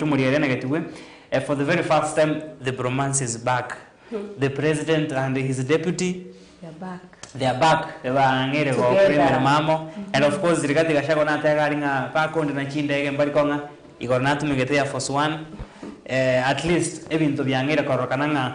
Tomorierenegetigwe, for the very first time the bromance is back, the president and his deputy they are back bang'eire gokora emeremo amo and of course Rigathi Gachagua nateba aria ng'a bakonde na chindege mbari kong'a igoro natumegete Air Force One, at least ebinto biang'eire kororokana ng'a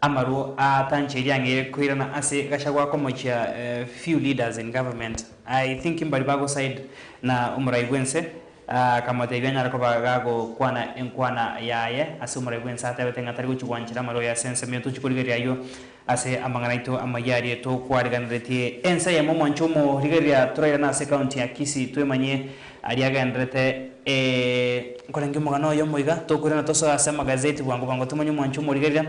Amarwo aa tanche riang'e koirana ase Gachagua komochia few leaders in government I think mbari bagoside na omorai bwense aa akamotebia anyare koba gagokwana enkwana yaye ase omorai bwense atebete ng'a tari gochi gwanchera amarwa ya sense muna tochi korigereria ayio ase amang'ana aito amayia aria tokwariganeretie ense eyemo mwanche omo rigereria torairane ase county ya Kisii twemanye Aria agenderete, Ee, nkorenge omogano oyo moiga, tokoirana tosoe ase amagazeti bwango bwango tomanye omwancho omorigereria,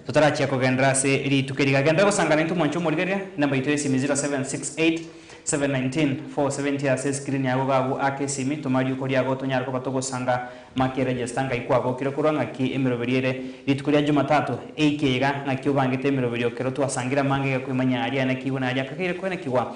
totarachia kogenderera ase rituko eri. Gagenderera gosangana intwe omwancho omorigereria, enamba yaito y'esimi 0768719470 ase eskirini agwo gagwo aka esimi, toma riuko riago tonyare koba togosanga make eregesta ng'ai kwabokire korwa ng'aki emeroberio ere rituko ria Jumatato, eike iga ng'aki obangete emeroberio ekero twasangire amangega kwimanya aria anekigwe na aria akageire koenekigwa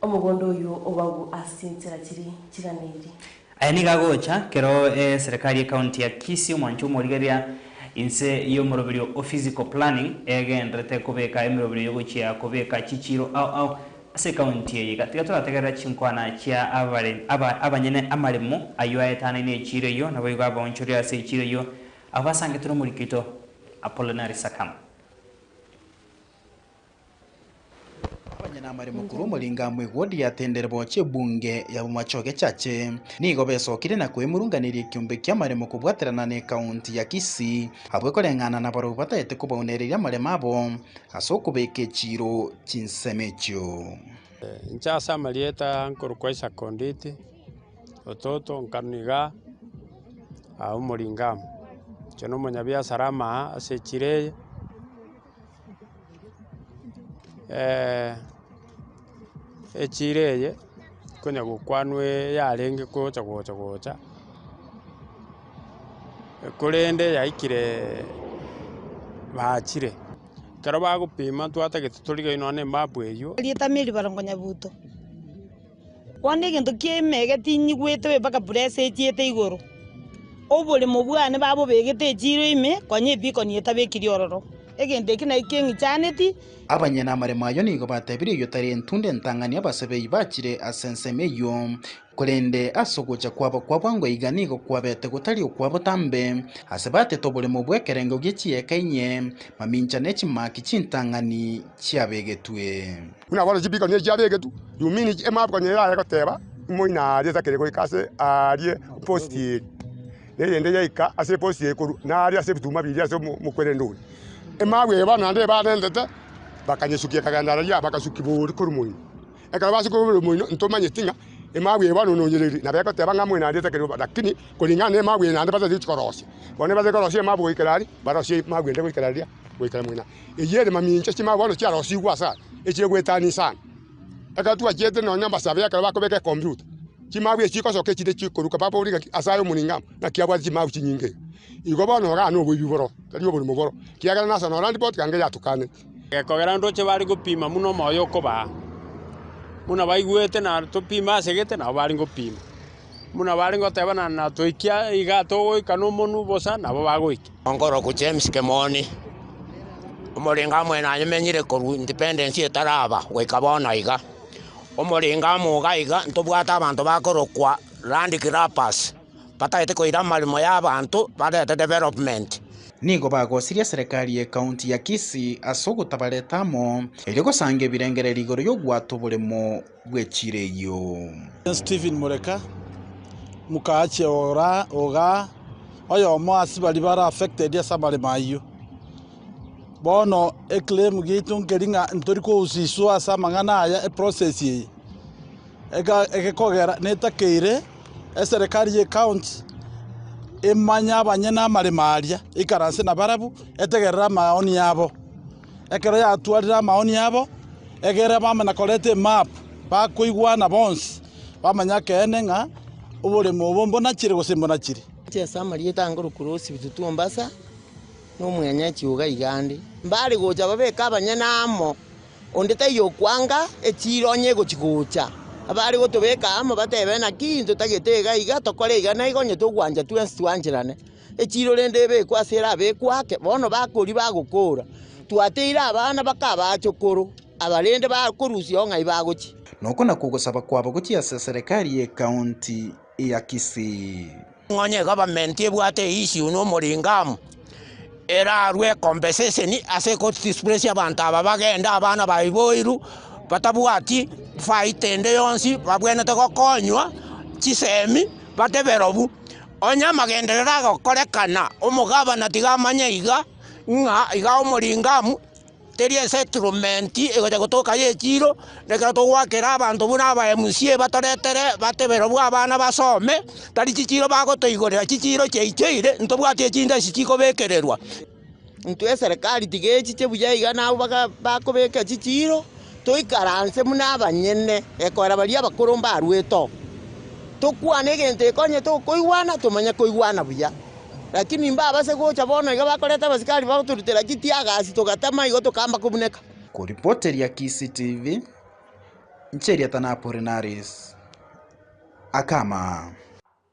Omogondo oyio obagwo ase chinsera chiri chigana eri. Aya nigo agocha kero eserekari ye county ya Kisii omwancho omorigeria inse y'omoroberio o physical planning egenderete kobeka emeroberio y'ogochia kobeka chichiiro ao ao ase ecounty eye iga tiga torategerera chinkwana chia abare aba abanyene amaremo ayio aetanaine echiiro eyio naboigo abaonchoria ase echiiro eyio abo basangete nomorikito Apollinary Sakam. Abanyene amaremo korwa omoringo amo egodi yatendire bochia ebunge ya Bomachoge Church nigo besokire na koemurunganeria ekiombe ki'amaremo kobwaterana ne County ya Kisii abwo ekoreng'ana nabarobwi batagete kobaunereria amaremo abo ase okobeka echiiro chinsemo echio. Inche ase amarieta nkorokwa Isaac Onditi, ototo nkarwa iga omoringo amo. Inche nomonyabiasara ama aa ase echiiro eye. echiro eye konya gokwanwe yarenge gocha gocha gocha, korende yaikire bachire, ekero bagopima twatagete torigereire nonya na emap eywo. Bono egento kiaima egetinyigwetwe mpaka bura esechete igoro, oboremo bwane babobegete echiro ime, konya ebikoni etabekiri ororo. Egento eke nakio keng'ichaneti. Abanyene amaremo ayio nigo batebirie oyio tari entunde entang'ani abasebei bachire ase ensemo eyio, korende ase ogocha kwabo kwa bwango iga nigo kwabete gotari okwa botambe, ase batete oboremo bw'ekerengo gie chieka inye, mamincha ne chimaki chintang'ani chiabegetwe. Buna bono chibikanwa echi chiabegetwe, Yumini emap konya erare goteba, Omoina aria takiri goika ase aaria eposti eye, na eyende yaika ase eposti eye korwa naaria ase ebituma biria ase omokwerende oria. Emap eye bono naende ebarentete, bakanyesukia ekagenda araria bagasukigwa oria korwa omoino. Ekero basukigwa korwa omoino, ntomanyeti ng'a emap eye bono nonyereiri, nabo egoteba ng'a omoina aria takiri goika. Rakini kuring'ana na emap eye naende batari gochia korosia. Bono nigo batari korosia emap goikera aria, barosie emap ende goikera riria, goikera omoina. Eyio ere mamincha chimaya bono chiarosigwe ase aya, echire goetania sana. Ekero twachete nonya abasabe ekero bakobeka ekombiuta, chimabu echio chigosoka echinde chikoruka babore ng'aki ase aye omonene amo naki abwate chimabu chinyinge iga. Igo bono oranywe oboibi boro, tari oborimo boro, ekiagera nase nore aripoti iga nge yatukaneti. Gekogera ntoche bare gopima buna omoyo okobaa, buna baigwete na topime ase gete nabo bare gopima. Buna bare goteba na na toikia igaa togoika nomonwe bosa nabo bagoika. Onkoroku James Kemoni, omorenga amo nanyamenyire korwa independence etaraba goika bono iga, omorenga amo iga iga ntobwate abanto bakorokwa land grabbers batagete koira amaremo ya abanto barete development. Nigo bagosiria serekari ye county ya Kisii ase ogotabareta amo erio gosanga ebirengererio igoro yobwato oboremo. bwe chireio. Stephen Mureka, Mukaache ogaa, oyomo ase baria bare affected ase amaremo ayio. Bono eclaim giaito nkeri ng'a ntori kogusiswa ase amang'ana aya eprocess eye egekogera netakeire eserekari ye county emanye abanyene amaremo aria ikaranse nabarabwo etegerere amaoni abo. Ekero yatwarire amaoni abo egere bamanya koreta emapu, bakoigwana bonsi, bamanye ekeene ng'a oboremu obo mbuna chire gose mbuna chire. Ase ase amarieta ange orokorosi bitutu Mombasa, na omweny'enchi oiga iga ande. Mbare gocha babeke abanyene amo, onde taiyo okwanga, echiira onye egochi gocha. Abare gotobeka amo batebe naki intwe tagete iga iga, tokore iga na iga onye togwancha twensi twancherane. Echiiro rende ebekwe ase ere abekwe ake, bono bakori bagokoora, twateire abana baka abachokoro aba rende bakorusiao ng'ai bagochia. Noko nakwo ogosaba kwabo gochia ase Serikali y'Ekaunti ya Kisii. Nonya egavamenti ebwate eissue na omoringo amo erarue compensation ase egodisplesia abanto aba bagende abana baiboirwe batabwati faita ende yonsi babwenete gokonywa chisemi bate berobu. Onye amagenderero agokorekana, omogabana tiga amanye iga, ng'a iga Omoringamu teri esettlement egocha gotoka y'echiiro, nekero togoakera abanto buna aba MCA batoretere bate barobwo abana basome, tari chichiiro bagotoigorera, chichiiro chiaichoire ntobwati echinde echikobekererwa. intwe eserekari tiga echiche buya iga nabo baga bakobeka chichiiro, toikaranse buna abanyene, gekoera baria abakoro mbarwete oo, tokwane egento ekonye tokoigwana, tomanye koigwana buya. Rakini mbabase gocha bono iga bakoreta abasikari bagotorutera chitiagasi togatama igo tokamba kobuneka. Koripoteria Kisii TV, inche Eriata Napolenaris, Akama.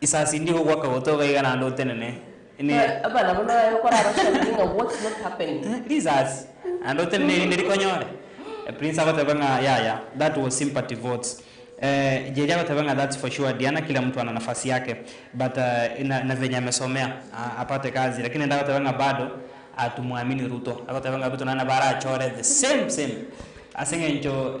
Isasi ndi gokwa kagoto iga iga naende otenene risasi naende otenene erinde rikonyore A prince agoteba ng'a yaya that was sympathy votes eh, Jeria agoteba ng'a that's for sure Diana kila mtu ana nafasi yake but eh, na, na venye amesomea a, apate kazi lakini naende agoteba ng'a bado atumwamini Ruto agoteba ng'a Ruto naende nabo arachore the same same ase eng'encho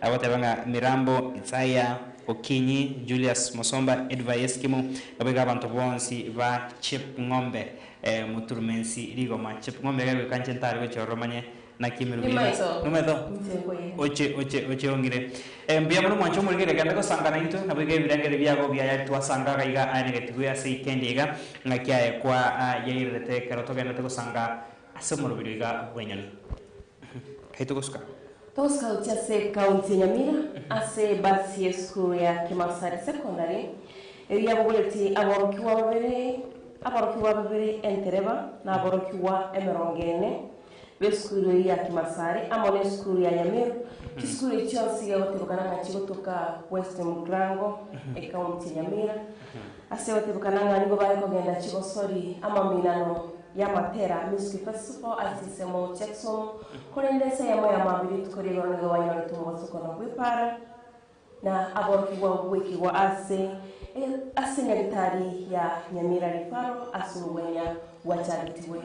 Agoteba ng'a Mirambo, Itsaya, Okinyi, Julius, Mosomba, Edvai Eskimu, babe iga abanto bonsi ba Chepng'ombe. Moturumensi rigoma. Chepng'ombe iga egoika inche ntare gochia ororo manye naki emeruru yaino. Nimaiso inche nkoyee. Oche, oche, oche ong'ire. Mbuya mono mwanche omorigereria kende gosanka naintwe, nabo iga ebirengererio biago biayari twasanga iga iga aye na egetigwe ase ikendi iga, ng'aki yaye kwa yairerete ekero togenderete gosanka Ase omorobiri oiga bw'enyoni tari togosuka. Togosikauti ase County ya Nyamira ase ebasi y'esukuru ya Kimasari Secondary erio yabogoretie aborokigwa babere aborokigwa babere entereba na aborokigwa emerongo ene b'esukuru eyio ya Kimasari amo n'esukuru ya Nyameru chisukuru echi chionsi igagotebekana ng'a chigotoka West Mugrango ecounty ya Nyamira. Ase gotebekana ng'a nigo bare kogenda chigosori amaminano y'amatera Music Festival ase ensemo Checksum, korende ense eyemo ya mambia rituko ria igoro nigo banyorete omobaso korwa gw'epaara na aborokigwa goikigwa ase ase nyaritari ya Nyamira Rifaro ase obweenya gwachagetigwe.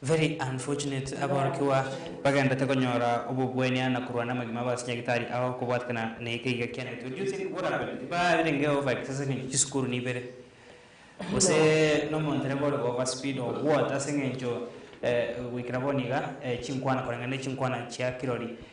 Very unfortunate aborokigwa bagendete konyora obobwania na korwana namagima base nyagetari ao kobwatekana na eke iga kianetwe do you think what happened tibarenge over excess ase engencho chisukuru nibere gose nomondereba ore over speed or what ase engencho eh goikera bono iga eh chinkwana koreng'ana na chinkwana chia kirori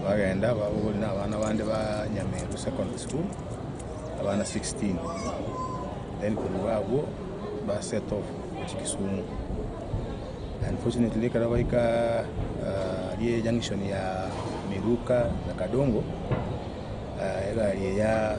Bagenda babogoria nabana bande ba Nyameru secondary school, abana 16, then korwa agwo ba set off gochia Kisumu. Unfortunately ekero baika aria junction ya Miruka na Kadongo, egari eya.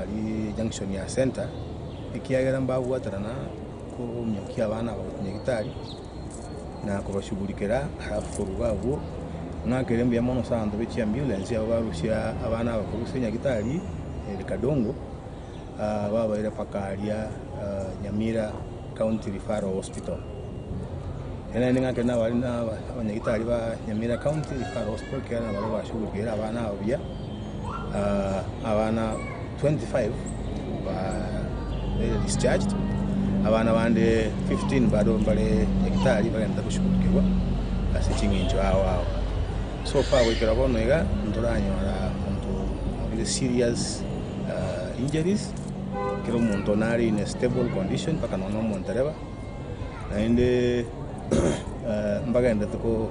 Aria junction ya center, ekiagera mbabwaterana kominyokia abana aba gochia nyagetari, na kobashugurikera, alafu koruga agwo, ng'akere mbuya mono ase abanto be chiambulance abwo barusia abana aba korwa ase nyagetari ere Kadongo, babaira mpaka aria Nyamira. County Referral Hospital. Enaende ng'ake nabare nabanyagitari ba Nyamira County Referral Hospital ekiagera nabare bashughulikiire abana aba buya. Abana 25 bare discharged, abana bande 15 bado mbare nyagitari bagenda goshughulikigwa ase ching'encho ao ao. So far goikera bono iga ntoranyora monto obe serious injuries. kera omonto nare in a stable condition mpaka nonya omondereba, naende mbagenderete ko-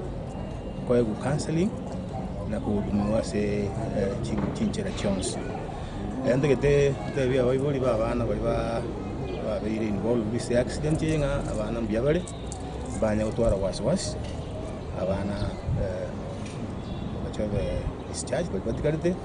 koegwa counselling na kohudumiwa ase chi- chinchera chionsi. Ntagete ntebi abaibori ba abana baria ba- babeire involved ase accident eye ng'a abana mbuya bare, mbanye gotwara wasi wasi, abana bache babe discharged baria batigarete.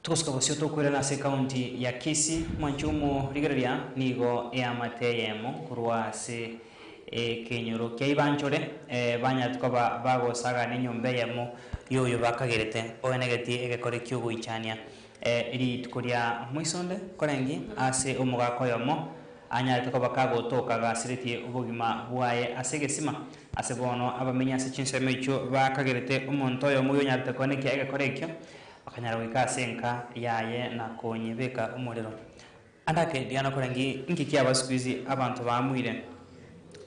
Togosika bosio tokoirana ase ekaunti ya Kisii, mwancho omo rigereria nigo eamate eyemo korwa ase ekenyoro kia Ibanchore banyarete koba bagosagana enyomba eyemo y'oyo bakagerete oenegetie egekore ki'ogoichania rituko ria moiso onde korenge ase omogaka oyomo anyarete koba kagotoka gasiretie obogima bwaye ase egesima. Ase bono abamenyi ase chinsemo echio bakagerete omonto oyomo oyonyarete koenekia egekore ekio. Akanyara goika ase enka yaye na konyebeka omorero. Ande ake riria nakora ngi inki kiaba sikuizi abanto baamuire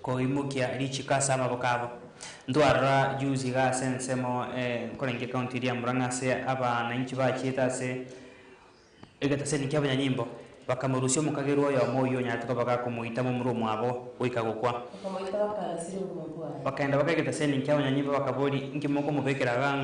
koimokia richiko ase amaboko abo. Ntwarora juzi iga ase ensemo nkore ngi ekaunti eria ya Murang'a ase abanainchi bachiete ase egetaseni kia abanyanyimbo bakamorusia omokagerwa oyomo oyio onyarete koba gakomoita momura omwabo goika gokwa. Bakaenda baka egetaseni kia abanyanyimbo bakabori inki mokomobekera iga ng'a?